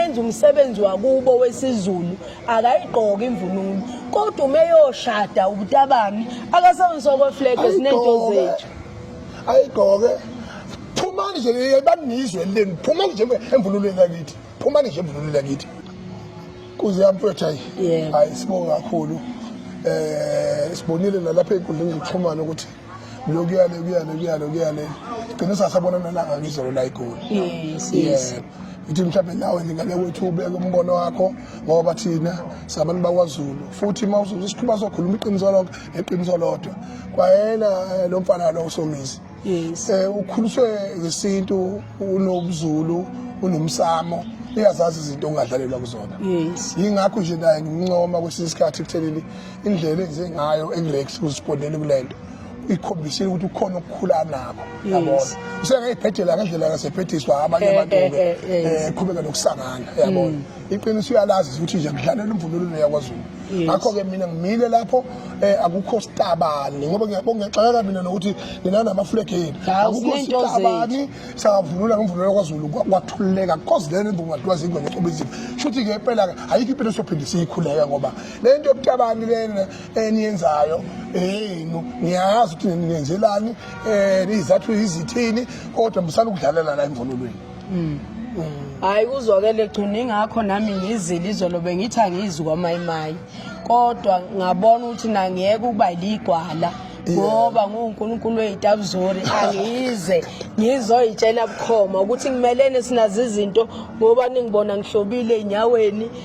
enza umsebenzi wakubo wesiZulu akayigqoki imvunulo kodwa uma eyoshada ubutabani akasawunsoko flag esinento zethu ayigqoke phumani nje banizwe leni phumani nje emvunulweni yakithi phumani nje emvunulweni yakithi kuze yamfethu hayi hayi sibonga kakhulu eh sibonile nalapha enkundleni zokuxhumana ukuthi lokuya lokuya lokuya lokuya le gcine sasabona nalanga ngizolo la igoli yes yes ithi mhlawumbe nawe ngingake wethu ubeke umbono wakho ngoba thina sabantu bakwazulu futhi uma uzoze sikhuluma sokhuluma iqiniso lonke neqiniso lodwa kwayena eh, lo mfana lo usomizi yes eh ukhuliswe ngesintu unobuzulu unomsamo uyazazi izinto ongadlalelwa kuzona yes yingakho nje naye ngimncoma kwesinye isikhathi kutheleli indlela enze ngayo ekurex uzibonele kule nto ikhombisile ukuthi ukhona ukukhula nabo yabona usengayibhedela ngendlela ngasebhediswa abanye eh, abantu eh, ke eh, eh qhubeka nokusangana yabona mm. iqiniso uyalazi ukuthi nje ngidlalela umvunulo yakwaZulu ngakho ke mina ngimile lapho akukho sitabani ngoba ngiyabongexaka mina nokuthi nina namaflag yenu akukho sitabani sawavunula ngomvunulo yakwaZulu kwathululeka because then imvumo ngathiwa zingwe ngecobizini shuthi ke impela ke ayikho impilo sophinde siyikhuleka ngoba le nto yokutabani lena eniyenzayo eyenu ngiyazi ukuthi nenzelani um eh, izathu izithini kodwa musani ukudlalela la emvunulweni mm. mm. hayi kuzwakele gcina ingakho nami ngizile izolo bengithi angizwi kwamayimayi kodwa ngabona ukuthi nangiyeke ukuba ligwala ngoba nguNkulunkulu weyitabuzori angize ngizoyitshela bukhoma ukuthi kumelene sinazi izinto ngoba ningibona ngihlobile enyaweni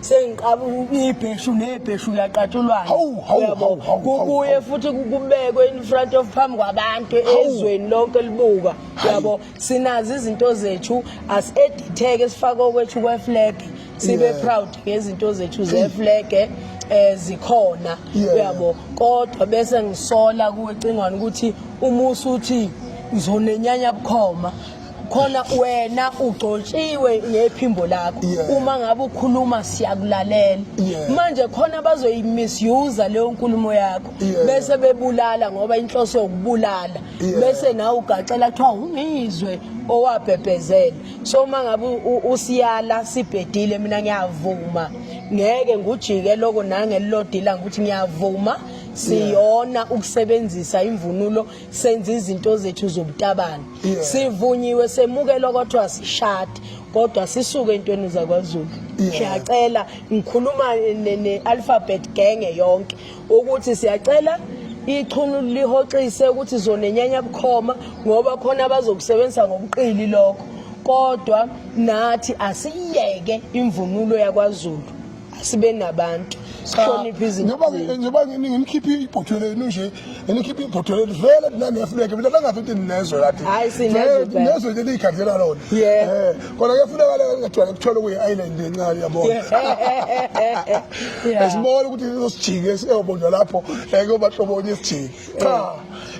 sengiqaba ibheshu nebheshu laqatshulwana kubuye futhi kubekwe in front of phambi kwabantu ezweni lonke libuka yabo sinazo izinto zethu aseditheke sifake okwethu kweflag sibe proud ngezinto zethu zeflag eh, eh zikhona uyabo kodwa bese ngisola kuwe cingwane ukuthi umusa uthi ngizonenyanya bukhoma khona wena ugcotshiwe ngephimbo lakho yeah. uma ngabe ukhuluma siyakulalela yeah. manje khona bazoyimisuse leyo nkulumo yakho yeah. bese bebulala ngoba inhloso yokubulala yeah. bese nawe ugaxela kuthiwa ungizwe owabhebhezela so uma ngabe usiyala sibhedile mina ngiyavuma ngeke ngujike loko nangelilodila ngokuthi ngiyavuma siyona ukusebenzisa imvunulo senza izinto zethu zobutabane sivunyiwe semukelwa kodwa sishade kodwa sisuke entweni zakwazulu siyacela ngikhuluma ne-alphabet genge yonke ukuthi siyacela ichunu lihoxise ukuthi zonenyanya bukhoma ngoba khona abazokusebenzisa ngobuqili lokho kodwa nathi asiyeke imvunulo yakwazulu sibe nabantu sihloniphe izinto njengoba ngimkhiphe ibhotho lenu nje ngimkhiphe ibhotho lenu vele mina ngiyafuneka mina nangathi into endinezo yathi hayi sinezwe nezwe leli ikhandela lona eh kodwa kuyafuneka la ngathiwa kuthola kuyi island encane yabona esibona ukuthi sizosijike siyobonwa lapho eh kuyoba hlobonye isijike cha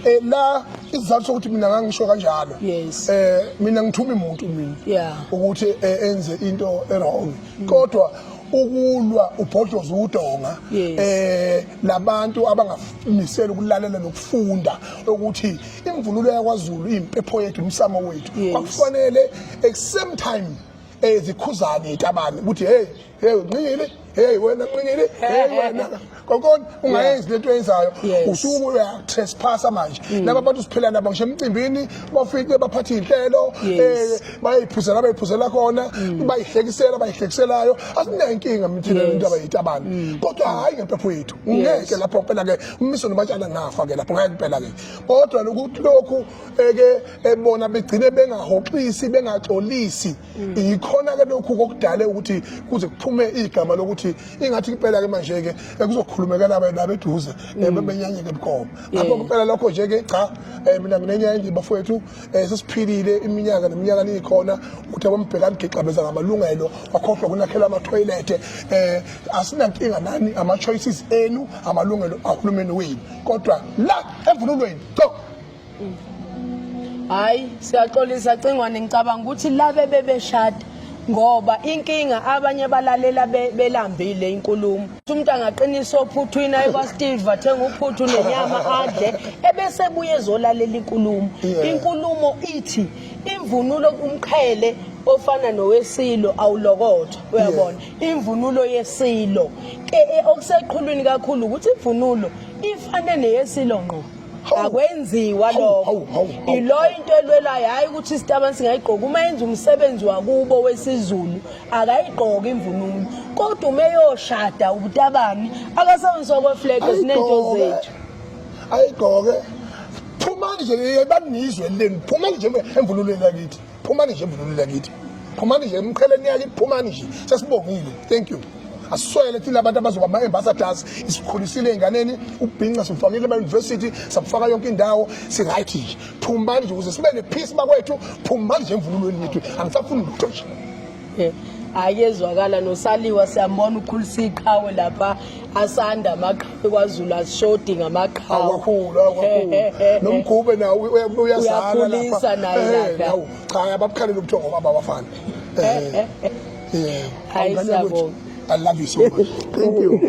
eh la isizathu sokuthi mina ngangisho kanjalo yes eh mina ngithuma imuntu mina ukuthi eh, enze into e wrong kodwa ukulwa ubhodoza udonga eh labantu abangamisela ukulalela nokufunda ukuthi imvunulo yakwaZulu impepho yethu umsamo wethu kwakufanele at same time ezikhuzane eh, itabane ukuthi hey hey nqile hey wena nqile hey wena kokona ungayenzi lento oyenzayo usuke uyatresphasa manje mm. laba bantu siphila nabo ngisho emcimbini bafike baphatha iy'nhlelo um eh, bayayiphuzela bayiphuzela khona mm. bayihlekisela bayihlekiselayo asinenkinga mithina lento abayitabana mm. kodwa hhayi ngempepho yethu ngeke lapho phela-ke umiso nobatshana ngafa-ke lapho ngeke phela-ke kodwa lokhu eke ebona eh, begcine bengahoxisi bengaxolisi Mm. yikhona-ke lokhu kokudale ukuthi kuze kuphume igama lokuthi ingathi impela-ke manje-ke kuzokhulumekela wena beduze mm. eh, bebenyanyeke bukhoma ngakho kuphela lokho nje-ke cha um mina nginenye endini bafowethu um sesiphilile iminyaka neminyaka niyikhona ukuthi abambheka nigixabeza ngamalungelo wakhohlwa kunakhela amathoyilethe um asinankinga nani ama-choices enu amalungelo ahulumeni wenu kodwa la emvunulweni co hayi siyaxolisa cingwane ngicabanga ukuthi labe bebeshada ngoba inkinga abanye balalela belambile inkulumo umuntu angaqinisa ophuthu ina ebasteve athenga uphuthu nenyama adle ebese buye ezolalela inkulumo inkulumo ithi imvunulo umqhele ofana nowesilo awulokothwa uyabona imvunulo yesilo e, e, okuseqhulwini kakhulu ukuthi imvunulo ifane neyesilo ngqo akwenziwa lokho ilo into elwelayo hayi ukuthi isitabani singayigqoka uma yenza umsebenzi wakubo wesizulu akayigqoki imvunulo kodwa uma eyoshada ubutabani akasebenzisa okweflege sinento zethu ayigqoke phumani nje yebanizwe leni phumani nje emvunulweni yakithi phumani nje emvunulweni yakithi phumani nje emqheleni yakithi phumani nje sesibongile thank you asiswele thina abantu abazoba ama-ambassadors isikhulisile ey'nganeni ukubhinca sikufakile emayunivesithi sakufaka yonke indawo si-right nje phumani nje ukuze sibe ne-peace bakwethu phumani nje emvunulweni yethu angisafuni lutho nje hhayi ezwakala nosaliwa siyambona ukhulisa iqhawe lapha asanda amaqhawe kwazulu asishodi ngamaqhawenomgube nawo uyakhulisa naye lapha cha ababukhalele ubuthongo baba bafana hayi siyabonga I love you so much. Thank you.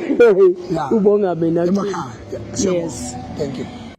Ubonga mina. Yes. Thank you.